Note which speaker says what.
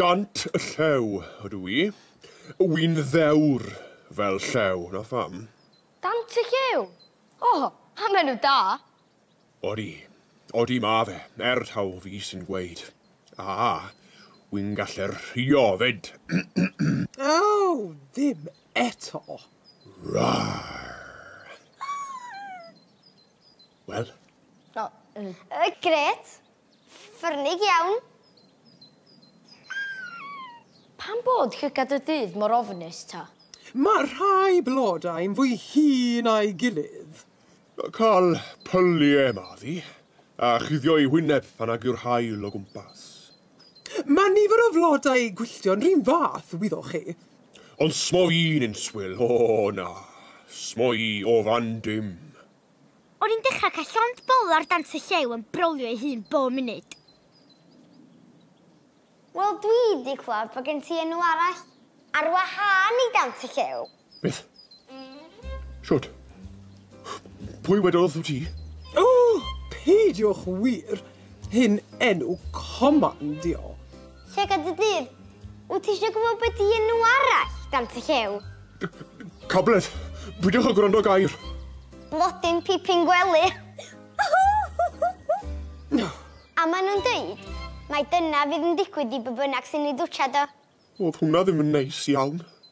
Speaker 1: Dant y Llew ydw i. Wy'n ddewr fel llew, 'na pham. Dant y
Speaker 2: Llew? O! Am enw da! Odi, odi
Speaker 1: ma' fe, er taw fi sy'n gweud. A, wy'n gallu rhuo 'fyd.
Speaker 3: Aw, ddim eto! Rar!
Speaker 1: Wel? O, yy, grêt!
Speaker 2: Ffyrnig iawn. Pam bod llygad y dydd mor ofnus ta? Mae rhai
Speaker 3: blodau'n fwy hŷn na'i gilydd. Cael
Speaker 1: pyliau maddi, a chuddio'i wyneb pan nag yw'r haul o gwmpas. Mae
Speaker 3: nifer o flodau gwylltio'n r'un fath, wyddoch chi. Ond smoi'n
Speaker 1: inswyl, o na, smoi o fan dim. O'n i'n
Speaker 4: dechrau cael llond bol ar dant y llew yn brolio ei hun bob munud.
Speaker 2: Wel, dwi 'di clywed bod gen ti enw arall ar wahân i dant y llew. Beth?
Speaker 1: Shwt? Pwy wedodd wrth ti? O!
Speaker 3: Peidiwch wir! Hyn enw command di o. Llygad
Speaker 2: y dydd. Wyt ti eisiau gwybod beth i enw arall dan y llew? Cabledd.
Speaker 1: Peidiwch â gwrando gair. Blodyn
Speaker 2: pipyn gwely. A maen nhw'n dweud, mae dyna fydd yn digwydd
Speaker 1: i
Speaker 2: be bynnag sy'n
Speaker 1: ei
Speaker 2: dwtshad o. Oedd hwnna
Speaker 1: ddim
Speaker 2: yn neis
Speaker 1: iawn.